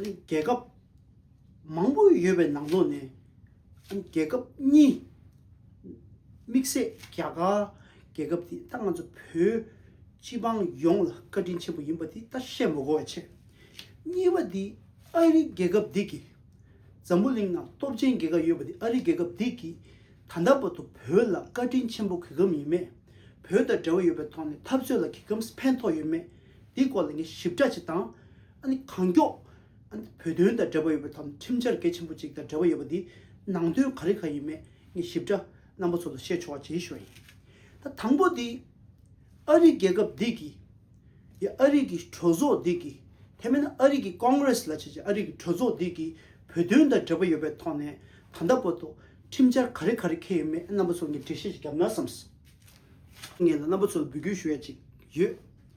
རྒྱལ་ཁབ་མང་པོ་ཡོད་པའི་ནང་དོན་ནས་རྒྱལ་ཁབ་གཉིས་དམིགས་བསལ་རྒྱ་གར་རྒྱལ་ཁབ་དེ་ད་ང་ཚོ་བོད་སྤྱི་འབངས་ཡོངས་ལ་བཀའ་དྲིན་ཆེན་པོ་ཡིན་པ་དེ་ད་བཤད་མི་དགོས་བ་ཆེ། གཉིས་པ་དེ་ཨ་རི་རྒྱལ་ཁབ་དེ་གི་འཛམ་བུ་གླིང་ནང་སྟོབས་ཆེན་རྒྱལ་ཁབ་ཡོད་པ་དེ་ཨ་རི་རྒྱལ་ཁབ་དེ་གི་ད་ལྟ་བར་དུ་བོད་ལ་བཀའ་དྲིན་ཆེན་པོ་གི་གམ་ཡིན་མེད་བོད་དང་འབྲེལ་བ་ཡོད་པའི་ཐོག་ནས་འཐབ་རྩོད་ལ་གི་གམ་ཕན་ཐོག་ཡོད་མེད་དེ་སྐོར་ལ་ངས་ཞིབ་ཕྲ་ཅིག་དང། ཨ་ནི་གང་མགྱོགས། ཨ་ནི་བོད་དོན་དང་འབྲེལ་བ་ཡོད་པའི་ཐོག་ཁྲིམས་འཆར་གལ་ཆེན་པོ་གཅིག་དང་འབྲེལ་བ་ཡོད་པ་འདི་ནང་དོན་ག་རེ་ག་ཡིན་མེད་ངས་ཞིབ་ཕྲ་རྣམ་པ་ཚོ་ལ་བཤད་ཆོག་བྱེད་ཞོར་ཡིན། ད་དང་པོ་དེ། ཨ་རིའི་རྒྱལ་ཁབ་འདི་གིས། ཡ་ཨ་རིག་གི་གྲོས་ཚོགས་འདི་གིས། དེ་མིན་ཨ་རིག་གི Congress ལ་བྱས་ཀྱི་ཨ་རིག་གི་གྲོས་ཚོགས་འདི་གིས་བོད་དོན་དང་འབྲེལ་བ་ཡོད་པའི་ཐོག་ནས་ད་ལྟ་བར་དུ་ཁྲིམས་འཆར་ག་རེ་ག་རེ་འཁེལ་ཡོད་མེད་རྣམ་པ་ཚོ་ངས་འགྲེལ་བཤད་ཅིག་བརྒྱབ་ན་བསམས་སོང། ངས་ལ་རྣམ་པ་ཚོ་ལ་འབུལ་སྐྱོན་ཞུ་ཡ་ཅིག་ཡོད།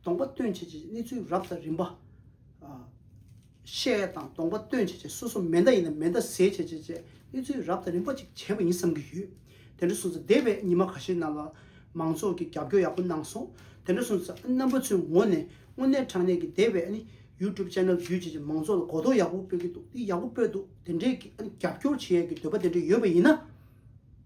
སྡོང་པོ་སྟོན་བྱེད་ཀྱི་གནས་ཚུལ་རབ་དང་རིམ་པ། ཤེལ་དང་སྡོང་པོ་སྟོན་བྱེད་ཀྱི་སོ་སོ་མེ་མདའ་ཡིན་ན་མེ་མདའ་ཟས་བྱེད་ཀྱི་བཅས་གནས་ཚུལ་རབ་དང་རིམ་པ་ཅིག་བྱས་པ་ཡིན་བསམ་གྱི་ཡོད། དེ་འདྲ་སོང་ཚེ་འདས་པའི་ཉིན་མ་ག་ཤེད་རྣམས་ལ་མང་ཚོགས་ཀྱིས་རྒྱབ་སྐྱོར་ཡག་པོ་གནང་སོང། དེ་འདྲ་སོང་ཚེ་རྣམ་པ་ཚོའི་ངོ་ནས་དངོས་གནས་དྲང་གནས་ཀྱི་འདས་པའི YouTube Channel བརྒྱུད་བྱེད་ཀྱི་མང་ཚོགས་ལ་གོ་རྟོགས་ཡག་པོ་སྤེལ་གྱི་འདུག་འདི་ཡག་པོ་སྤེལ་འདུག་དེ་འདྲའི་རྒྱབ་སྐྱོར་བྱེད་ཡས་ཀྱི་འདོད་པ་དེ་འདྲ་ཡོད་པ་ཡིན་ན།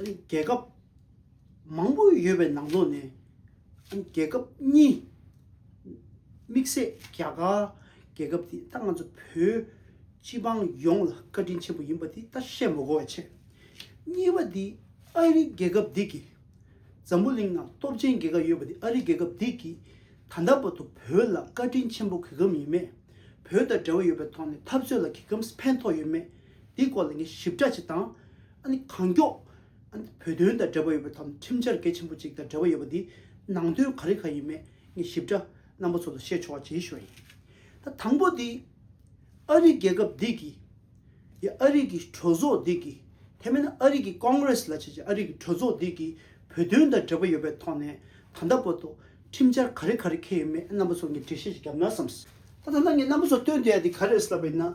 རྒྱལ་ཁབ་མང་པོ་ཡོད་པའི་ནང་དོན་ནས་རྒྱལ་ཁབ་གཉིས་དམིགས་བསལ་རྒྱ་གར་རྒྱལ་ཁབ་དེ་ད་ང་ཚོ་བོད་སྤྱི་དཔང་ཡོངས་ལ་བཀའ་དྲིན་ཆེན་པོ་ཡིན་པ་དེ་ད་བཤད་མི་གོ་བ་ཆེ། གཉིས་པ་དེ་ཨ་རི་རྒྱལ་ཁབ་དེ་གིས་འཛམ་བུ་གླིང་ནང་སྟོབས་ཆེན་རྒྱལ་ཁབ་ཡོད་པ་དེ་ཨ་རི་རྒྱལ་ཁབ་དེ་གིས་ད་ལྟ་བར་དུ་བོད་ལ་བཀའ་དྲིན་ཆེན་པོ་གི་གམ་ཡིན་མེད་བོད་དང་འབྲེལ་བ་ཡོད་པའི་ཐོག་ནས་འཐབ་རྩོད་ལ་གི་གམ་ཕན་ཐོག་ཡོད་མེད་དེ་སྐོར་ལ་ངས་ཞིབ་ཕྲ་ཅིག་དང། ཨ་ནི་གང་མགྱོགས། ཨ་ནི་བོད་དོན་དང་འབྲེལ་བ་ཡོད་པའི་དམ་ཁྲིམས་འཆར་གལ་ཆེན་པོ་གཅིག་དང་འབྲེལ་བ་ཡོད་པ་འདི་ནང་དོན་ག་རེ་ག་ཡིན་མེད་ངས་ཞིབ་ཕྲ་རྣམ་པ་ཚོ་ལ་བཤད་ཆོག་བྱེད་ཞོར་ཡིན། ད་དང་པོ་དེ། ཨ་རིའི་རྒྱལ་ཁབ་འདི་གིས། ཡ་ཨ་རིའི་གི་གྲོས་ཚོགས་འདི་གིས། དེ་མིན་ཨ་རིའི་གི Congress ལ་བྱས་ཀྱི་ཨ་རིའི་གི་གྲོས་ཚོགས་འདི་གིས་བོད་དོན་དང་འབྲེལ་བ་ཡོད་པའི་ཐོག་ནས་ད་ལྟ་བར་དུ་ཁྲིམས་འཆར་ག་རེ་ག་རེ་འཁེལ་ཡོད་མེད་རྣམ་པ་ཚོར་ངས་འགྲེལ་བཤད་ཅིག་བརྒྱབ་ན་བསམས། ད་ད་ལྟ་ངས་རྣམ་པ་ཚོར་སྟོན་དེ་ཡ་དེ་ག་རེ་རེད་ལབ་པ་ཡིན་ན།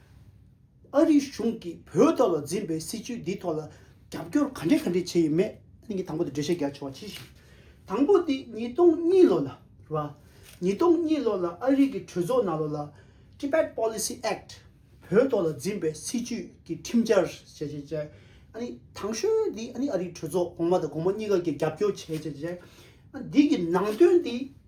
ཨ་རིའི་གཞུང་གིས་བོད་དོན་ལ་འཛིན་པའི་སྲིད་བྱུས་འདིའི་ཐོག་ལ་རྒྱབ་སྐྱོར་ག་འདྲས་ག་འདྲས་བྱས་ཡོད་མེད་གནད་ཀྱི་དང་པོ་དེ་འགྲེལ་བཤད་རྒྱག་ཆོག་པ་ཅི་ཞིག་དང་པོ་དེ་ཉིས་སྟོང་གཉིས་ལོ་ལ་རེད་པ། ཉིས་སྟོང་གཉིས་ལོ་ལ་ཨ་རིའི་གི་གྲོས་ཚོགས་ནང་ལོ་ལ Tibet Policy Act བོད་དོན་ལ་འཛིན་པའི་སྲིད་བྱུས་ཀྱི་ཁྲིམས་འཆར་ཞེས་བྱས་རྗེས་ཨ་ནི་དང་ཤོས་དེ་ཨ་ནི་ཨ་རིའི་གྲོས་ཚོགས་གོང་མ་དང་གོང་མ་གཉིས་ཀ་གིས་རྒྱབ་སྐྱོར་བྱས་བྱས་རྗེས་ཨ་འདི་གི་ནང་དོན་དེ།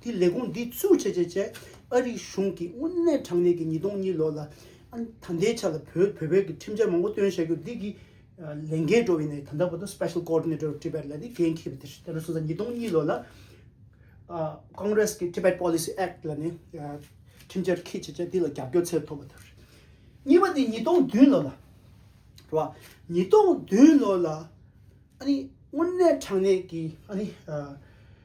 དེས་ལས་ཁུངས་འདི་བཙུགས་བྱས་རྗེས་བཅས་ཨ་རིའི་གཞུང་གིས་དངོས་གནས་དྲང་གནས་ཀྱི་ཉིས་སྟོང་གཉིས་ལོ་ལ་ད་ལྟའི་ཆ་ལ་བོད་བོད་པའི་གི་ཁྲིམས་འཆར་མང་པོ་བཏོན་བྱ་རྒྱུ་འདི་གི་ལས་འགན་འགྲོ་བའི་ནས་ད་ལྟ་བར་དུ Special Coordinator Tibet ལ་ནས་འགན་འཁྱེར་བའི་དེ་ལོ་སོ་སོ་ཉིས་སྟོང་གཉིས་ལོ་ལ Congress གི Tibet Policy Act ལ་ནས་ཁྲིམས་འཆར་འཁྱེར་བྱས་རྗེས་འདི་ལ་རྒྱབ་སྐྱོར་ཚད་མཐོ་བ་ཐོབ་རེད། གཉིས་པ་དེ་ཉིས་སྟོང་བདུན་ལོ་ལ་རེད་བ། ཉིས་སྟོང་བདུན་ལོ་ལ་ཨ་ནི་དངོས་གནས་དྲང་གནས་ཀྱི་ཨ་ནི།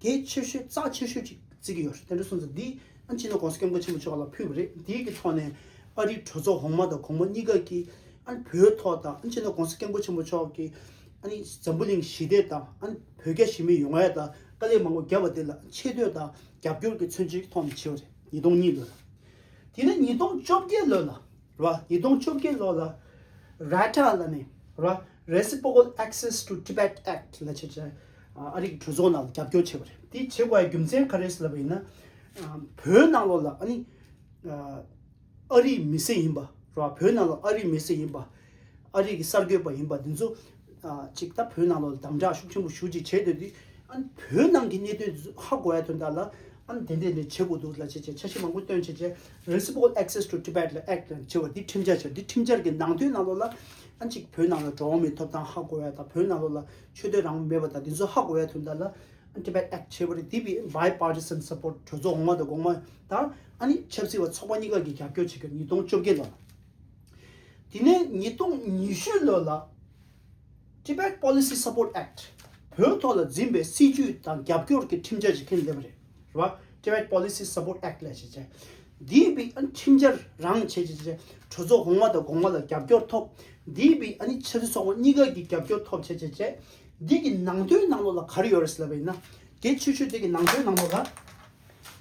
དེ་ཆོས་ཤོད་རྩ་ཆོས་ཤོད་ཅིག་བརྩི་གི་ཡོད་རེད་དེ་འདྲ་སོང་ཚེ་འདི་ཨ་ཕྱི་ནང་གོང་ས་སྐྱབས་མགོན་ཆེན་པོ་མཆོག་ལ་ཕུལ་བ་རེད་འདི་གི་ཐོག་ནས་ཨ་རིའི་གྲོས་ཚོགས་འོག་མ་དང་གོང་མ་གཉིས་ཀ་གིས་ཨ་ནི་བོད་ཐོག་དང་ཨ་ཕྱི་ནང་གོང་ས་སྐྱབས་མགོན་ཆེན་པོ་མཆོག་གིས་ཨ་ནི་འཛམ་བུ་གླིང་ཞི་བདེ་དང་ཨ་ནི་བོད་རྒྱ་ཞི་མི་ཡོང་བའི་དང་དཀའ་ལས་མང་པོ་བརྒྱབ་པ་དེ་ལ་ཆེ་བསྟོད་དང་རྒྱབ་སྐྱོར་གྱི་མཚོན་བྱེད་ཀྱི་ཐོག་ནས་བྱས་པ་རེད་ཉིས་སྟོང་གཉིས་ལོ་ལ། དེ་ནས་ཉིས་སྟོང་བཅོ་བརྒྱད་ལོ་ལ། ར་ཡི་དོང་བཅོ་བརྒྱད་ལོ་ལ་ར་ཏྲ་ལ་ནས་ར Reciprocal Access to Tibet Act ལ་བྱེད་ཆེད་ཨ་རིག་གྲོས་ཚོགས་ནང་ལ་རྒྱབ་སྐྱོར་བྱས་པ་རེད་དེ་བྱེད་དགོས་པའི་རྒྱུ་མཚན་ག་རེ་ལབ་པ་ཡིན་ན་བོད་ནང་ལོ་ལ་ཨ་ནི་ཨ་རིའི་མི་སེར་ཡིན་པ་ར་བོད་ནང་ལོ་ཨ་རིའི་མི་སེར་ཡིན་པ་ཨ་རིག་གི་གསར་འགོད་པ་ཡིན་པ་དེ་ཚོ་ཅིག་ད་བོད་ནང་ལ་དམ་བསྒྲགས་ཤུགས་ཆེན་པོ་ཞུ་ཅིག་བྱེད་འདོད་དུས་ཨན་བོད་ནང་གི་གནད་དོན་ཧ་གོ་ཡ་དོན་དག་ལ་ཨན་དེ་འདྲས་འདྲས་བྱེད་དགོས་འདུག་ལ་བྱས་བྱས་ཆ་ཤས་མང་པོ་སྟོན་བྱས་བྱས Reciprocal Access to Tibet ལ Act ལ་བྱས་བ་འདི་ཁྲིམས་འཆར་བྱས་འདི་ཁྲིམས་འཆར་གྱི་ནང་དོན་ནང་ལོགས་ལ་ཨན་ཅིག་བོད་ནང་ལ་འགྲོ་འོང་མི་ཐོབ་ཐང་ཧ་གོ་ཡ་དང་བོད་ནང་ལོགས་ལ་ཆོས་དོན་རང་དབང་མེད་པ་དང་འདི་ཚོ་ཧ་གོ་ཡ་དོན་དག་ལ་ཨན Tibet Act བྱས་བ་རེད་འདི་བས Bipartisan Support གྲོས་ཚོགས་འོག་མ་དང་འགོག་མ་དང་ཨ་ནི་ཆབ་སྲིད་བ་ཚོགས་པ་གཉིས་ཀ་གི་རྒྱབ་སྐྱོར་བྱེད་དགོས་ཉིས་སྟོང་བཅོ་བརྒྱད་ལོ། དེ་ནས་ཉིས་སྟོང་ཉི་ཤུ་ལོ་ལ Tibet Policy Support Act བོད་ཐོག་ལ་འཛིན་པའི་སྲིད་ཇུས་དང་རྒྱབ་སྐྱོར་གྱི་ཁྲིམས་འཆར་ཞིག་ཁས་ལེན་པ་རེད་བ Tibet Policy Support Act ལས་བྱེད་འདིའི་བི་ཁྲིམས་འཆར་རང་བྱས་ཀྱི་གྲོས་ཚོགས་གོང་མ་དང་དགོང་མ་ལ་རྒྱབ་སྐྱོར་ཐོབ་འདིའི་བི་ཕྱི་དྲིལ་སོགས་པ་གཉིས་ཀ་གི་རྒྱབ་སྐྱོར་ཐོབ་བྱས་བྱས་བྱས་འདི་གི་ནང་དོན་ནང་ལོགས་ལ་ག་རེ་ཡོད་རེད་ཟེར་བ་ཡིན་ན་དེ་ཆུད་ཆུད་དེ་གི་ནང་དོན་ནང་ལོགས་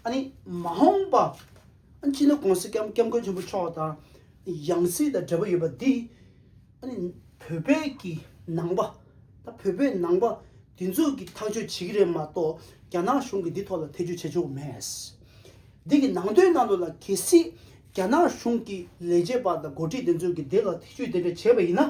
ལ་མ་འོངས་པ་སྤྱི་ནོར ྋགོང་ས ྋསྐྱབས་མགོན་ཆེན་པོ་མཆོག་དང་ཡང་སྲིད་དང་འབྲེལ་བ་ཡོད་པ་འདི། བོད་པའི་ཀྱི་ནང་པ་དང་བོད་པའི་ནང་པ་འདི་ཚོས་ཀྱི་ཐག་གཅོད་བྱེད་ཀྱི་རེད་མ་གཏོགས་རྒྱ་ནག་གཞུང་གིས་འདི་ཐོག་ལ་ཐེ་ཇུས་བྱེད་ཆོག་མེད། འདི་གི་ནང་དོན་ནང་དུ་ལ་གལ་སྲིད་རྒྱ་ནག་གཞུང་གི་ལས་བྱེད་པ་དང་འགོ་ཁྲིད་འདི་ཚོས་ཀྱི་འདི་ལ་ཐེ་ཇུས་འདི་འདྲ་བྱས་པ་ཡིན་ན།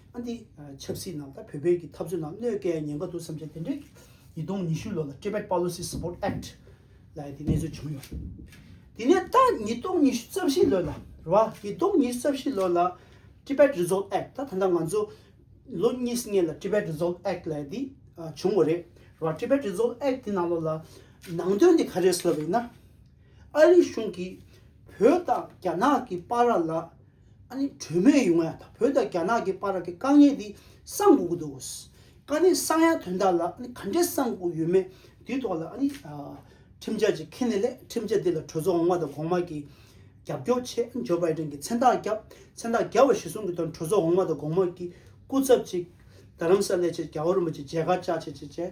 ཨ་འདི་ཆབ་སྲིད་ནང་ད་བོད་བོད་ཀྱི་འཐབ་རྩོད་ནང་གནོད་སྐལ་ཉེན་ཁ་འདུག་བསམ་ཆེད་དེ་འདྲའི་ཉིས་སྟོང་ཉི་ཤུ་ལོ་ལ Tibet Policy Support Act ལ་ཡི་དེ་གནས་ཚུལ་བྱུང་ཡོད། དེ་ནས་ད་ཉིས་སྟོང་ཉི་ཤུ་རྩ་བཞི་ལོ་ལ་ར་བ་ཉིས་སྟོང་ཉི་ཤུ་རྩ་བཞི་ལོ་ལ Tibet Resolve Act ད་ད་ལྟ་ང་ཚོ་ལོ་གཉིས་ངེས་ལ Tibet Resolve Act ལ་ཡི་དེ་བྱུང་བ་རེད་ར་བ Tibet Resolve Act དེ་ནང་ལོ་ལ་ནང་དོན་དེ་ག་རེད་ཟེར་བ་ཡིན་ན་ཨ་རིའི་གཞུང་གིས་བོད་དང་རྒྱ་ནག་གི་པ་ར་ལ་ཨ་ནི་གྲོས་མོལ་ཡོང་ཡ་ད་བོད་དང་རྒྱ་ནག་གི་བར་གི་དཀའ་ངལ་དེ་སངས་དགོས་ཀྱི་འདུག་ཀ་ནི་སངས་ཡ་དོན་དག་ལ་ཨ་ནི་ག་འདྲས་སངས་དགོས་ཡོད་མེད་དེའི་ཐོག་ལ་ཨ་ནི་ཁྲིམས་འཆར་ཅིག་ཁེ་ནི་ལས་ཁྲིམས་འཆར་དེ་ལ་གྲོས་ཚོགས་འོང་བ་དང་གོང་མ་གི་རྒྱབ་སྐྱོར་ཆེད་ཇོ་བའི་ཏན་གྱི་མཚན་རྟགས་བརྒྱབ་མཚན་རྟགས་བརྒྱབ་བ་གཞི་བཟུང་གི་དོན་གྲོས་ཚོགས་འོང་བ་དང་གོང་མ་གི་སྐུ་ཚབ་ཅིག་རྡ་རམ་ས་ལའི་ཆེད་རྒྱལ་བ་རིན་པོ་ཆེ་མཇལ་ཁ་བཅར་ཆེད་ཅེས་བཅས་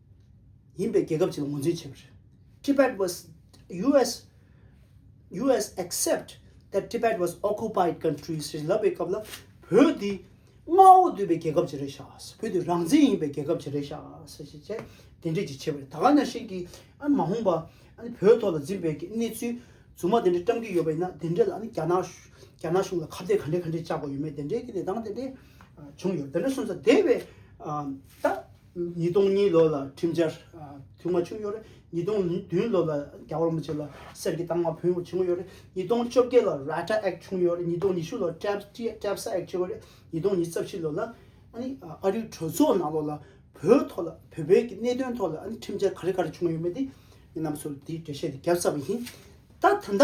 ཡིན་པའི་རྒྱལ་ཁབ་ཅིག་ལ་ངོས་འཛིན་བྱས་པ་རེད། Tibet was US US accept that Tibet was occupied country ཞེས་ལབ་པའི་སྐབས་ལ་བོད་འདི་མངའ་འོག་བསྡུས་པའི་རྒྱལ་ཁབ་ཅིག་རེད་ཤག་བོད་འདི་རང་བཙན་ཡིན་པའི་རྒྱལ་ཁབ་ཅིག་རེད་ཤག་ཞེས་བྱས་དེ་འབྲེལ་གྱི་བྱས་པ་རེད་ད་ག་ནང་བཞིན་གྱི་མ་འོངས་པ་བོད་ཐོག་ལ་འཛིན་པའི་གནས་ཚུལ་རྫུན་མ་དེ་འདྲ་བཀྲམ་གྱི་ཡོད་པ་ཡིན་ན་དེ་འདྲ་ལ་རྒྱ་ནག་རྒྱ་ནག་གཞུང་ལ་ཁ་བརྡའི་ག་འདྲའི་ག་འདྲའི་བཅག་པ་ཡོད་མེད་དེ་འདྲའི་གི་ལས་སྟངས་དེ་འདྲའི་བྱུང་ཡོད་དེ་འདྲ་སོང་ཙང་དེ་བས་ད། ཉིས་སྟོང་གཉིས་ལོ་ལ་ཁྲིམས་འཆར་དུས་མ་བྱུང་ཡོད་རེད་ཉིས་སྟོང་བདུན་ལོ་ལ་རྒྱ་བོར་མི་བྱེད་ལ་གསེར་གྱི་ཏང་མ་བུན་བྱུང་ཡོད་རེད་ཉིས་སྟོང་བཅོ་བརྒྱད་ལ Rata Act བྱུང་ཡོད་རེད་ཉིས་སྟོང་ཉི་ཤུ་ལོ Trapsa Act བྱུང་ཡོད་རེད་ཉིས་སྟོང་ཉིས་རྩ་བཞི་ལོ་ལ་ཨ་རིའི་གྲོས་ཚོགས་ནང་ལོ་ལ་བོད་ཐོག་ལ་བོད་པའི་གི་གནད་དོན་ཐོག་ལ་ཁྲིམས་འཆར་ག་རེ་ག་རེ་བྱུང་ཡོད་མེད་དེ་རྣམས་སུ་དེའི་འགྲེལ་བཤད་དེ་བརྒྱབ་ཚར་བ་ཡིན་ད་ད་ལྟ།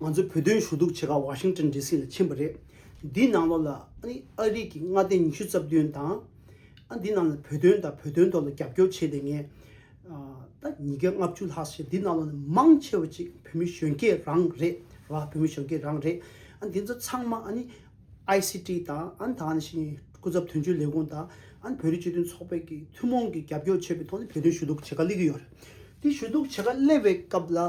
ང་ཚོའི་བོད་དོན་ཞུ་གཏུག་བྱེད་ཁག་ཝཱ་ཤིང་ཏོན་ལྡི་སི་ལ་ཕྱིན་པ་རེད། འདིའི་ནང་ལོགས་ལ་ཨ་རིག་གི་མངའ་སྡེ་ཉི་ཤུ་རྩ་བདུན་དང། འདི་རྣམས་ལ་བོད་དོན་དང་བོད་དོན་ཐོག་ལ་རྒྱབ་སྐྱོར་བྱས་ཏེ་ངས་ད་ཉིས་བརྒྱ་ལྔ་བཅུ་ལྷག་བྱས་འདི་རྣམས་ལོགས་ནས་མང་ཆེ་བ་ཅིག་བོད་མི་གཞོན་སྐྱེས་རང་རེད་ར་བོད་མི་གཞོན་སྐྱེས་རང་རེད། འདི་ཚོ་ཚང་མ་ཨའི་སི་ཀྲི་དང་ད་ནས་བཞིན་སྐུ་ཚབ་དོན་གཅོད་ལས་ཁུངས་དང་བོད་རིགས་སྤྱི་མཐུན་ཚོགས་པའི་ཀྱི་ཐུན་མོང་གི་རྒྱབ་སྐྱོར་བྱས་པའི་ཐོག་ནས་བོད་དོན་ཞུ་གཏུག་བྱེད་ཁག་སླེབས་ཀྱི་ཡོད་རེད། དེ་ཞུ་གཏུག་བྱེད་ཁག་སླེབས་པའི་སྐབས་ལ།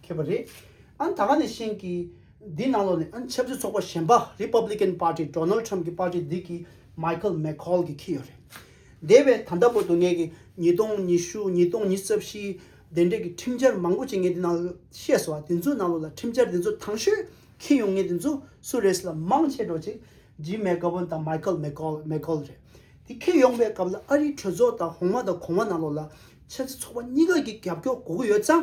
མཁས་པ་རེད། ཨང་ད་ག་ནས་ཤེས་ཀི། འདི་ནང་ལོགས་ནས་ཨང་ཆབ་སྲིད་ཚོགས་པ་གཞན་པ Republican Party Donald Trump གི་པར་ཏི་འདི་གི Michael McCaul གི་ཁྱི་ཡོད་རེད། དེ་བས་ད་ལྟ་བོ་དུ་ངས་ཀི་ཉིས་སྟོང་ཉི་ཤུ་ཉིས་སྟོང་ཉི་རྩ་བཞི་དེ་འདྲས་ཀི་ཁྲིམས་འཆར་མང་པོ་ཅིག་ངས་འདི་ནང་ལོགས་ཤེས་སོ་དེ་ཚོའི་ནང་ལོགས་ལ་ཁྲིམས་འཆར་དེ་ཚོ་ཐང་ཤོས་ཁི་ཡོང་ངེས་དེ་ཚོ་སུ་རེད་ལ་མང་ཆེ་འགྲོ་ཅིག Jim McGovern དང Michael McCaul McCaul རེད། དེ་ཁི་ཡོང་བའི་སྐབས་ལ་ཨ་རིའི་གྲོས་ཚོགས་དང་ཧོང་མ་དང་གོང་མ་ནང་ལོགས་ལ་ཆབ་སྲིད་ཚོགས་པ་གཉིས་ཀ་གི་རྒྱབ་སྐྱོར་དགོས་ཀི་ཡོད་ཙང་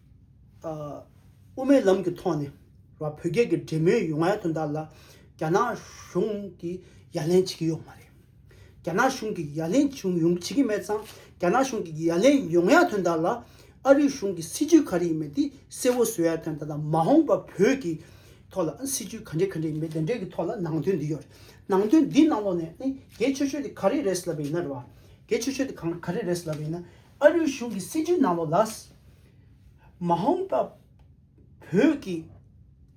དབུ་མའི་ལམ་གྱི་ཐོག་ནས་བོད་རྒྱལ་གྱི་འབྲེལ་མོལ་ཡོང་ཡ་དོན་དག་ལ་རྒྱ་ནག་གཞུང་གིས་ཡ་ལན་བྱེད་ཀྱི་ཡོད་མ་རེད། རྒྱ་ནག་གཞུང་གིས་ཡ་ལན་བྱུང་ཡོང་བྱེད་ཀྱི་མེད་ཙང་རྒྱ་ནག་གཞུང་གིས་ཡ་ལན་ཡོང་ཡ་དོན་དག་ལ་ཨ་རིའི་གཞུང་གིས་སྲིད་ཇུས་ག་རེ་ཡིན་མེད་དེ་གསལ་བོ་བཟོ་ཡ་དོན་དག་དང་མ་འོངས་པ་བོད་ཀྱི་ཐོག་ལ་སྲིད་ཇུས་ག་འདྲེ་ག་འདྲེ་ཡིན་མེད་དེ་འདྲེ་གི་ཐོག་ལ་ནང་དོན་འདི་ཡོད་རེད་ནང་དོན་འདི་ནང་ལོགས་ནས་ནི་རྒྱལ་ཆོས་ཆོས་དེ་ག་རེ་རེད་ཟེར་ལབ་པ་ཡིན་ན་རེད་བ། རྒྱལ་ཆོས་ཆོས་དེ་གང་ག་རེ་རེད་ཟེར་ལབ་པ་ཡིན་ན་ཨ་རིའི་གཞུང་གི་སྲིད་བྱུས་ནང་ལོ་ལཱས། Mahong། པ་བོད་ཀྱི་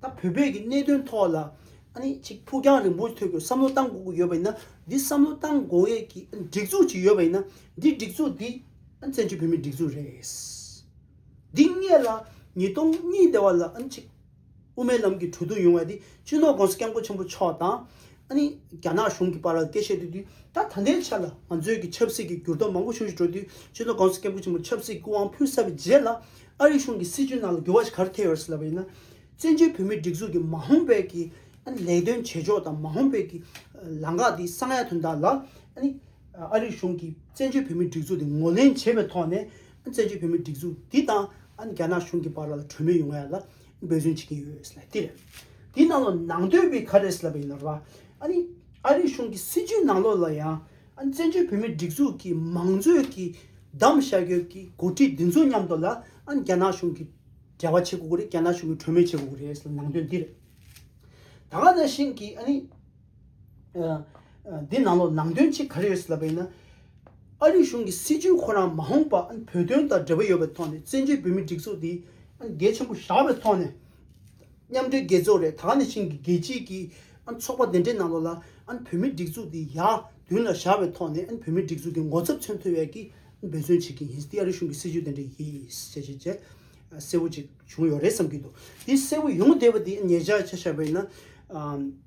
དང་བོད་པའི་གི་གནད་དོན་ཐོག་ལ་ཨ་ནི་གཅིག་ཕུགས་རྒྱང་རིང་པོ་ཐོས་དགོས་བསམ་བློ་བཏང་དགོས་ཀྱི་ཡོད་པ་ཡིན་ན་འདི་བསམ་བློ་བཏང་དགོས་ཡས་ཀྱི་ཨ་ནི་སྒྲིག་འཛུགས་གཅིག་ཡོད་པ་ཡིན་ན་འདི་སྒྲིག་འཛུགས་འདི་ཨ་ནི་བཙན་བྱོལ་བོད་མིའི་སྒྲིག་འཛུགས་རེད། འདི་སྔས་ལ་ཉིས་སྟོང་གཉིས་དེ་བ་ལ་ཨ་ནི་གཅིག། དབུ་མའི་ལམ་གྱི་གྲོས་བསྡུར་ཡོང་བ་དེ་སྤྱི་ནོར ྋགོང་ས ྋསྐྱབས་མགོན་ཆེན་པོ་མཆོག་དང། ཨ་ནི་རྒྱ་ནག་གཞུང་གི་བར་ལ་སྐད་བཤད་སྡོད་དུས་ད་ད་ལྟའི་ཆར་ལ་ང་ཚོའི་གི་ཆབ་སྲིད་ཀྱི་འགྱུར་ལྡོག་མང་པོ་བྱུང་ཞིག་འགྲོ་དུས་སྤྱི་ནོར ྋགོང་ས ྋསྐྱབས་མགོན་ཆེན་པོ་ཆབ་སྲིད་སྐུ་དབང་ཕུལ་ས་པའི་རྗེས་ལ་ཨ་རིའི་གཞུང་གི་སྲིད་བྱུས་ནང་ལ་འགྱུར་བ་ཞིག་ག་རེ་ཐེབས་ཡོད་ཟེར་ལབ་པ་ཡིན་ན། བཙན་བྱོལ་བོད་མིའི་སྒྲིག་འཛུགས་ཀྱི་མ་ཧོང་བེད་ཀྱི་ཨ་ནི་ལས་དོན་བྱེད་ཕྱོགས་དང་མ་ཧོང་བེད་ཀྱི་ལངས་ཁག་དེ་གསང་ཡག་དོན་དག་ལ་ཨ་ནི་ཨ་རིའི་གཞུང་གིས་བཙན་བྱོལ་བོད་མིའི་སྒྲིག་འཛུགས་དེ་ངོ་ལེན་བྱེད་པའི་ཐོག་ནས་བཙན་བྱོལ་བོད་མིའི་སྒྲིག་འཛུགས་འདི་དང་རྒྱ་ནག་གཞུང་གི་བར་ལ་གྲོས་མོལ་ཡོང་བ་ལ་འབོད་བརྩོན་བྱེད་ཀྱི་ཡོད་ལ་དེ་དེའི་ནང་ལ་ནང་དོན་བས་ག་རེ་ཟེར་བ་ཡིན་ལ་རོགས། ཨ་རིའི་ཨ་རིའི་གཞུང་གི་སྲིད་བྱུས་ནང་ལོགས་ལ་ཡང་བཙན་བྱོལ་བོད་མིའི་སྒྲིག་འཛུགས་ཀྱི་མང་གཙོའི་གི་གདམ་བཤའ་རྒྱོབ་ཀྱི་འགོ་ཁྲིད་འདི་ཚོ་མཉམ་དུ་ལ་རྒྱ་ནག་གཞུང་གི་འབྲེལ་བ་བྱེད་དགོས་ཀྱི་རེད་རྒྱ་ནག་གཞུང་གི་གྲོས་མོལ་བྱེད་དགོས་ཀྱི་རེད་ལ་ནང་དོན་འདི་རེད། ད་ག་ནང་བཞིན་གྱི་ཨ་ནི། འདི་ནང་ལོགས་ནང་དོན་ཅིག་ག་རེ་ཡོད་ཟེར་ལབ་པ་ཡིན་ན། ཨ་རིའི་གཞུང་གི་སྲིད་བྱུས་ཁོ་རང་མ་འོངས་པ་བོད་དོན་དང་འབྲེལ་བ་ཡོད་པའི་ཐོག་ནས་བཙན་བྱོལ་བོད་མིའི་སྒྲིག་འཛུགས་འདི་གལ་ཆེན་པོ་བཞག་པའི་ཐོག་ནས། མཉམ་འབྲེལ་རྒྱལ་ཚོགས་རེད་ད་ནས་བཞིན་གྱི་རྒྱལ་སྤྱིའི་གི་ཚོགས་པ་འདི་འདྲའི་ནང་ལོགས་ལ་བོད་མིའི་སྒྲིག་འཛུགས་འདི་ཡར་མདུན་ལ་བཞག་པའི་ཐོག་ནས་བོད་མིའི་སྒྲིག་འཛུགས་ཀྱི་ངོ་ཚབ་མཚོན་ཐུབ་ཡས་ཀྱི་འབད་བརྩོན་བྱེད་ཀྱི་ཡིན་འདི་ཨ་རིའི་གཞུང་གི་སྲིད་བྱུས་འདི་འདྲ་ཡིན་ཞེས་བྱས་རྗེས་གསལ་བོ་ཅིག་བྱུང་ཡོད་རེད་བསམ་གྱི་འདུག་འདི་གསལ་བོ་ཡོང་གི་བསྡད་པ་འདི་ངེད་ཅག་ཅེས་བྱ་བ་ཡིན་ན།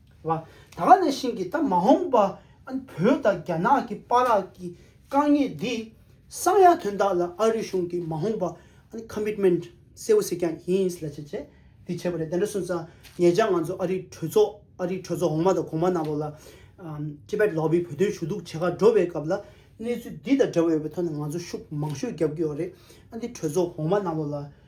བ། ད་ག་ནས་ཤིང་གིས་ད་མ་འོངས་པ་ཨན་བོད་དང་རྒྱ་ནག་གི་པ་རག་གི་དཀའ་ངལ་འདི་སངས་ཡ་དོན་དག་ལ་ཨ་རི་གཞུང་གི་མ་འོངས་པ་ཨན Commitment གསལ་བོ་ཟིག་ཀྱང་ཡིན་ལ་བྱས་བྱས་འདི་བྱས་པ་རེད་དེ་འདྲ་སོང་ཙང་ངེད་ཅག་ང་ཚོ་ཨ་རིའི་གྲོས་ཚོགས་ཨ་རིའི་གྲོས་ཚོགས་འོག་མ་དང་གོང་མ་ནང་ལོགས་ལ Tibet Lobby བོད་དོན་ཞུ་གཏུག་བྱེད་ཁག་འགྲོ་བའི་སྐབས་ལ་གནས་ཚུལ་འདི་དང་འདྲ་བ་ཡོད་པའི་ཐོག་ནས་ང་ཚོ་ཤུགས་མང་ཤོས་བརྒྱབ་ཀྱི་ཡོད་རེད་ཨ་འདི་གྲོས་ཚོགས་འོག་མ་ནང་ལོགས་ལ་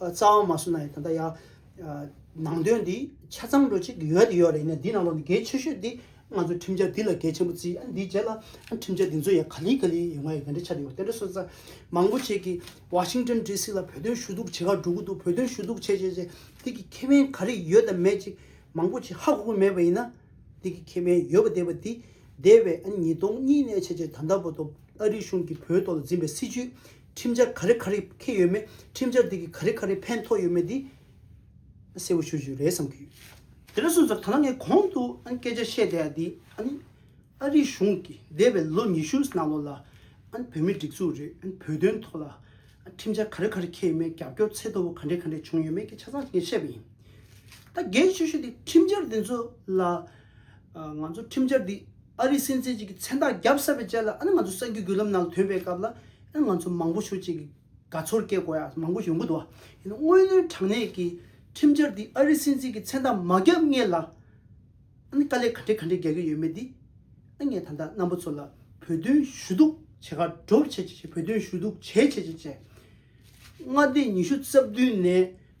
རྩ་བ་མ་གསུམ་ན་ཡང་ད་ལྟ་ཡང། ནང་དོན་འདི་ཆ་ཚང་འགྲོ་ཅིག་ཡོད་དེ་ཡོད་རེད་ནས་འདི་ནང་ལོག་ནས་གལ་ཆེ་ཤོས་འདི། ང་ཚོ་ཁྲིམས་འཆར་འདི་ལ་གལ་ཆེན་པོ་བརྩི་ཨ་འདིའི་རྗེས་ལ་ཨ་ཁྲིམས་འཆར་འདི་ཚོ་ཡང་ག་ལི་ག་ལི་ཡོད་ང་ཡི་ག་འདྲའི་ཆ་འདྲ་ཡོད་དེ་འདྲ་སོང་ཙང། མང་པོ་བྱེད་ཀྱི Washington DC ལ་བོད་དོན་ཞུ་གཏུག་བྱེད་ཁག་འགྲོ་གི་འདུག་བོད་དོན་ཞུ་གཏུག་བྱས་བྱས་བྱས་འདི་གི་ཁེ་ཕན་ག་རེ་ཡོད་དམ་མེད་ཅིག་མང་པོ་བྱེད་ཧ་གོ་གི་མེད་པ་ཡིན་ན། འདི་གི་ཁེ་ཕན་ཡོད་པ་བསྡད་པ་འདི། འདས་པའི་ཨ་ཉིས་སྟོང་གཉིས་ནས་བྱས་བྱས་ད་ལྟ་བར་དུ་ཨ་རི་གཞུང་གིས་བོད་ཐོག་ལ་འཛིན་པའི་སྲིད་བྱུས་ཁྲིམས་འཆར་ག་རེ་ག་རེ་ཁེལ་ཡོད་མེད་ཁྲིམས་འཆར་དེ་གིས་ག་རེ་ག་རེ་ཕན་ཐོགས་ཡོད་མེད་དེ་གསལ་བོ་ཞུ་རྒྱུ་རེད་བསམ་གྱི་ཡོད། དེ་ལས་སོ་ཟེར་ད་ལྟ་ངས་གོང་དུ་སྐད་ཆ་བཤད་བསྡད་དེ་ཨ་རིའི་གཞུང་གིས་འདས་པའི་ལོ་ཉི་ཤུ་ནང་ལོགས་ལ་བོད་མི་སྒྲིག་འཛུགས་རེད་བོད་དོན་ཐོག་ལ་ཁྲིམས་འཆར་ག་རེ་ག་རེ་ཁེལ་ཡོད་མེད་རྒྱབ་སྐྱོར་ཚད་མཐོ་བོ་ག་འདྲས་ག་འདྲས་བྱུང་ཡོད་མེད་ཀྱི་ཆ་ཚང་ངས་བཤད་པ་ཡིན། ད་གལ་ཆེ་ཤོས་དེ་ཁྲིམས་འཆར་དེ་ཚོ་ལ། ང་ཚོ་ཁྲིམས་འཆར་འདི་ཨ་རིའི་སྲིད་འཛིན་གཅིག་གི་མཚན་རྟགས་བརྒྱབ་ས་བའི་ཆ་ལ་ཨ་ནི་ང་ཚོ་གསར་འགྱུར་བརྒྱུད་ལམ་ནང་ཐོན་པའི་སྐབས་ལ་ཨ་ང་ཚོ་མང་པོ་ཞུ་གཅིག་གི་དགའ་ཚོར་སྐྱེ་དགོས་ཡ་མང་པོ་ཡོང་གི་འདུག་ཡིན་ན་དངོས་གནས་དྲང་གནས་ཀྱི་ཁྲིམས་འཆར་འདི་ཨ་རིའི་སྲིད་འཛིན་གྱི་མཚན་རྟགས་མ་བརྒྱབ་ངེས་ལ་ཨ་ནི་དཀའ་ལས་ག་འདྲའི་ག་འདྲའི་རྒྱག་གི་ཡོད་མེད་འདི་ཨ་ངས་ད་ལྟ་རྣམ་པ་ཚོ་ལ་བོད་དོན་ཞུ་གཏུག་བྱེད་ཁ་སྒྲོབ་བྱེད་བྱེད་བོད་དོན་ཞུ་གཏུག་བྱེད་བྱེད་བྱེད་བྱེད་མངའ་སྡེ་ཉི་ཤུ་རྩ་བདུན་ནས།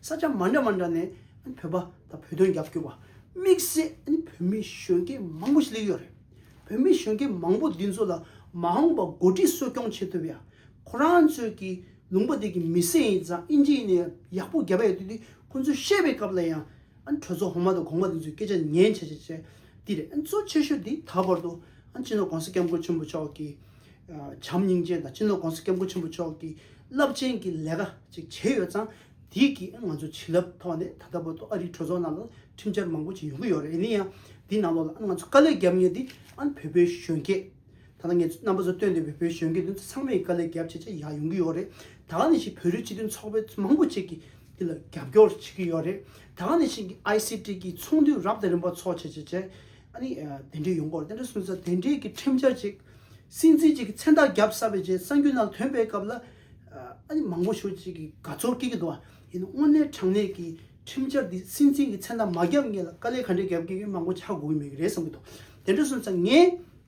ས་ཆ་མ་འདྲ་མ་འདྲ་ནས་བོད་པ་དང་བོད་དོན་རྒྱབ་སྐྱོར་བ་དམིགས་བསལ་བོད་མི་གཞོན་སྐྱེས་མང་པོ་ཞིག་སླེབས་ཡོད་རེད། བོད་མི་གཞོན་སྐྱེས་མང་པོ་འདི་ཚོ་ལ་མ་འོངས་པ་འགོ་ཁྲིད་གསོ་སྐྱོང་བྱེད་ཐུབ་ཡ། ཁོ་རང་ཚོས་ཀྱི་ལུང་པ་དེ་གི་མི་སེ་ཡིན་ཙང་ཨིན་ཇི་ཡིན་ནས་ཡག་པོ་རྒྱབ་ཡ་དུས་དེ་ཁོ་ཚོས་བཤད་པའི་སྐབས་ལ་ཡང་ཨན་གྲོས་ཚོགས་གོང་མ་དང་གོང་མ་དེ་ཚོའི་སྐད་ཆ་ཉན་བྱ་བྱ་བྱ། འདིར་ཨན་གཙོ་ཆེ་ཤོས་དེ་ད་བར་དུ་ཨན་སྤྱི་ནོར་གོང་ས་སྐྱབས་མགོན་ཆེན་པོ་མཆོག་གི་བྱམས་སྙིང་རྗེ་དང་སྤྱི་ནོར་གོང་ས་སྐྱབས་མགོན་ཆེན་པོ་མཆོག་གི་རླབས་ཆེན་གྱི་ལས་ཀ་ཅིག་བྱས་ཡོད་ཙང་དེ་གིས་ཨན་ང་ཚོའི་བྱིན་རླབས་ཐོག་ནས་ད་ལྟ་བར་དུ་ཨ་རིའི་གྲོས་ཚོགས་ནང་ལ་ཁྲིམས་འཆར་མང་པོ་ཅིག་ཡོང་གི་ཡོད་རེད་ཡིན་ན་ཡང་དེའི་ནང་ལོགས་ལ་ཨན་ང་ཚོས་དཀའ་ལས་བརྒྱབ་ངེས་དེ་ཨན་བོད་པའི་གཞོན་སྐྱེས། ད་ལྟ་ངས་རྣམ་པ་ཚོར་སྟོན་འདོད་པའི་བོད་གཞོན་སྐྱེས་དེ་ཚོ་ཚང་མས་དཀའ་ལས་རྒྱབ་ཆེ་ཆེ་ཡག་ཡོང་གི་ཡོད་རེད། ད་ནས་ཞིག་བོད་རིགས་སྤྱི་མཐུན་ཚོགས་པའི་མང་པོ་ཅིག་གིས་འདི་ལ་རྒྱབ་སྐྱོར་བྱེད་ཀྱི་ཡོད་རེད། ད་ནས་ཞིག ICT གི་ཚོགས་འདུ་རབ་དང་རིམ་པ་འཚོགས་བྱེད་བྱེད་བྱེད། ཨ་ནི་དེ་འདྲའི་ཡོང་སྐོར་དེ་འདྲ་གསུངས་ཚར་དེ་འདྲའི་གི་ཁྲིམས་འཆར་ཅིག་སྲིད་འཛིན་ཅིག་གི་མཚན་རྟགས་རྒྱབ་ས་བའི་རྗེས་གསང་རྒྱུ་ནང་དོན་སྤེལ་སྐབས་ལ་ཨ་ནི་མང་པོ་ཞུ་ཅིག་གི་དགའ་ཚོར་སྐྱེ་གི་འདུག་ཨ་ཡིན་དངོས་གནས་དྲང་གནས་གི་ཁྲིམས་འཆར་འདི་སྲིད་འཛིན་གི་མཚན་རྟགས་མ་རྒྱབ་ངེད་ལ་དཀའ་ལས་ག་འདྲའི་རྒྱབ་ཀྱི་ཡོད་མང་པོ་ཆགས་དགོས་ཀྱི་མེད་གི་རེད་བསམ་གྱི་འདུག་དེ་འདྲ་གསུངས་ཚར་ངས།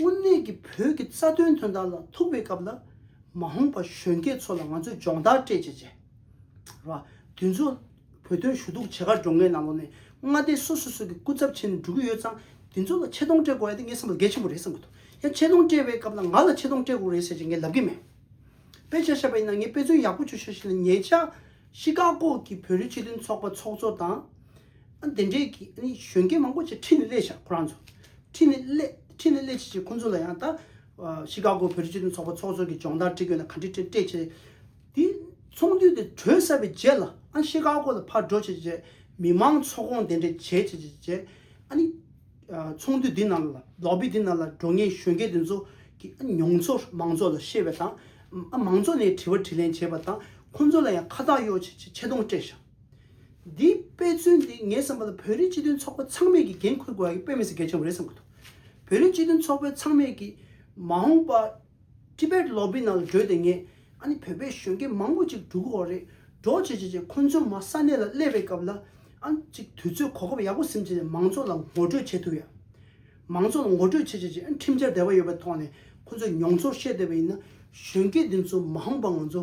དངོས་གནས་ཀྱི་བོད་ཀྱི་རྩ་དོན་དོན་དག་ལ་ཐུག་པའི་སྐབས་ལ། མ་འོངས་པ་གཞོན་སྐྱེས་ཚོ་ལ་ང་ཚོས་སྦྱོང་བརྡར་སྤྲད་ཅེས་བྱས། ར། དུས་མཚུངས། བོད་དོན་ཞུ་གཏུག་བྱེད་གར་འགྲོ་མཁན་རྣམས་ལོ་ནས་མངའ་སྡེ་སོ་སོ་སོ་གི་སྐུ་ཚབ་ཆེན་འགྲོ་གི་ཡོད་ཙང་དེ་ཚོ་ལ་ཆེ་མཐོང་སྤྲད་དགོས་ཡ་དེ་ངའི་བསམ་པ་ལ་གལ་ཆེན་པོ་རེད་བསམ་གི་འདུག་ཡང་ཆེ་མཐོང་སྤྲད་པའི་སྐབས་ལ་ང་ལ་ཆེ་མཐོང་སྤྲད་དགོས་རེད་ཟེར་ཅེས་ངས་ལབ་གི་མེད། དཔེ་ཆ་བཤད་པ་ཡིན་ན་ངས་དཔེ་མཚོན་ཡག་པོ་བྱོས་ཤག་བྱས་ལ་ཉེ་ཆར། ཤི་ཀ་ཀོ་གི་བོད་རིགས་སྤྱི་མཐུན་ཚོགས་པ་ཚོགས་གཙོ་དང། དེ་འདྲའི་གཞོན་སྐྱེས་མང་པོ་ཆེ་ཁྲིད་ནས་སླེབས་ཤག་ཁོ་རང་ཚོ། ཁྲིད་ནས་སླེབས་ཁྲིད་ནས་སླེབས་བྱེད་བྱེད་ཁོ་ཚོ་ལ་ཡང་ད། ཤི་ཀ་གོ་བོད་རིགས་སྤྱི་མཐུན་ཚོགས་པ་ཚོགས་གཙོ་གི་སྦྱོང་བརྡར་ཁྲིད་དགོས་ན་ག་འདྲི་ཁྲིད་ཁྲིད་བྱེད། དེ་ཚོགས་འདུས་དེ་གྲོལ་ཟ་བའི་རྗེས་ལ་ཨ་ཤི་ཀ་གོ་ལ་ཕར་འགྲོ་བྱེད་བྱེད་མི་མང་ཚོགས་སྐོང་དེ་འདྲས་བྱེད་བྱེད་བྱེད་བྱེད། ཨ་ནི། ཚོགས་འདུས་འདི་ནང་ལ་ལོག་པས་འདི་ནང་ལ་འགྲོ་ངེས་གཞོན་སྐྱེས་དེ་ཚོ་གི་ཨ་མྱོང་ཚོར་མང་ཚོགས་ལ་བཤད་པ་དང། ཨ་མང་ཚོགས་ནས་དྲི་བ་དྲི་ལན་བྱེད་པ་དང་ཁོ་ཚོ་ལ་ཡང་ཁ་བཏགས་གཡོག་བྱེད་བྱེད་ཆེ་མཐོང་སྤྲད་ཤག། འདིའི་དཔེ་མཚོན་འདི་ངས་བསམ་པ་ལ་བོད་རིགས་སྤྱི་མཐུན་ཚོགས་པ་ཚང་མས་ཀྱིས་འགན་འཁུར་དགོས་ཡག་གི་དཔེ་མི་སྲིད་གལ་ཆེན་པོ་རེད་བསམ་གི་འདུག་བོད་རིགས་སྤྱི་མཐུན་ཚོགས་པའི་ཚང་མས་ཀྱིས་མ་འོངས་པ Tibet Lobby ནང་ལ་བགྲོས་ཏེ་ངས་ཨ་ནི་བོད་པའི་གཞོན་སྐྱེས་མང་པོ་ཅིག་འགྲོ་གི་འོག་རེད་འགྲོ་བྱེད་བྱེད་བྱེད་ཁོང་ཚོའི་མ་ས་གནས་ལ་སླེབས་པའི་སྐབས་ལ་ཨ་ནི་ཅིག་དུས་ཚོད་གོ་སྐབས་ཡག་པོ་ཟིན་བྱས་ནས་མང་ཚོགས་ལ་ངོ་སྤྲོད་བྱེད་ཐུབ་ཡག་མང་ཚོགས་ལ་ངོ་སྤྲོད་བྱེད་བྱེད་བྱེད་ཨ་ནི་ཁྲིམས་འཆར་དེ་བ་ཡོད་པའི་ཐོག་ནས་ཁོང་ཚོས་མྱོང་ཚོར་བཤད་འདོད་པ་ཡིན་ན་གཞོན་སྐྱེས་འདི་ཚོ་མ་འོངས་པ་ང་ཚོ་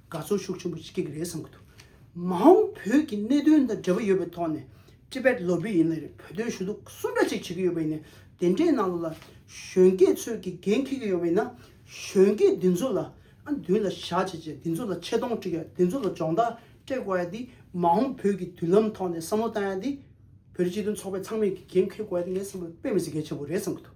དགའ་ཚོར་ཤུགས་ཆེན་པོ་སྐྱེ་གི་རེད་བསམ་གི་འདུག་མ་འོང་བོད་ཀྱི་གནད་དོན་དང་འབྲེལ་བ་ཡོད་པའི་ཐོག་ནས Tibet ལོ་བོད་ཡིན་ལ་རེད་བོད་དོན་ཞུ་གཏུག་གསུམ་འདྲ་ཅིག་བྱེད་ཀྱི་ཡོད་པ་ཡིན་ནས་དེ་འདྲའི་ནང་ལོགས་ལ་གཞོན་སྐྱེས་ཚོས་ཀྱི་འགན་འཁྱེར་གྱི་ཡོད་པ་ཡིན་ན་གཞོན་སྐྱེས་འདི་ཚོ་ལ་ཨ་མདུན་ལ་བཞག་བྱས་རྗེས་འདི་ཚོ་ལ་ཆེ་མཐོང་དཀྲིག་ཡ་འདི་ཚོ་ལ་སྦྱོང་བརྡར་སྤྲད་དགོས་ཡ་འདི་མ་འོང་བོད་ཀྱི་མདུན་ལམ་ཐོག་ནས་བསམ་བློ་བཏང་ཡ་འདི་བོད་རིགས་སྤྱི་མཐུན་ཚོགས་པའི་ཚང་མས་ཀྱི་འགན་འཁྱེར་དགོས་ཡ་འདི་ངས་བསམ་བློ་དཔེ་མི་སྲིད་གལ་ཆེན་པོ་རེད་བསམ་གི་འདུག་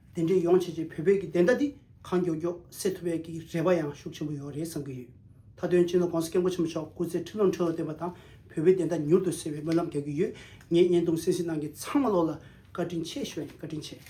དེ་འདྲའི་ཡོང་བྱེད་ཀྱི་བོད་པའི་གི་བདེན་མཐའ་འདི་གང་མགྱོགས་མགྱོགས་སེལ་ཐུབ་པའི་གི་རེ་བ་ཡང་ཤུགས་ཆེན་པོ་ཡོད་རེད་བསམ་གི་ཡོད། མཐའ་དོན་སྤྱི་ནོར ྋགོང་ས ྋསྐྱབས་མགོན་ཆེན་པོ་མཆོག་སྐུ་ཚེ་ཁྲི་ལོ་ཁྲི་ལོ་བརྟན་པ་དང་བོད་པའི་བདེན་མཐའ་མྱུར་དུ་སེལ་བའི་སྨོན་ལམ་རྒྱག་གི་ཡོད་ངས་བརྙན་ཐུང་སེང་སིན་ནང་གི་ཚང་མ་ལོག་ལ་བཀའ་དྲིན་ཆེ་ཞུ་བ་ཡིན་བཀའ་དྲིན་ཆེ།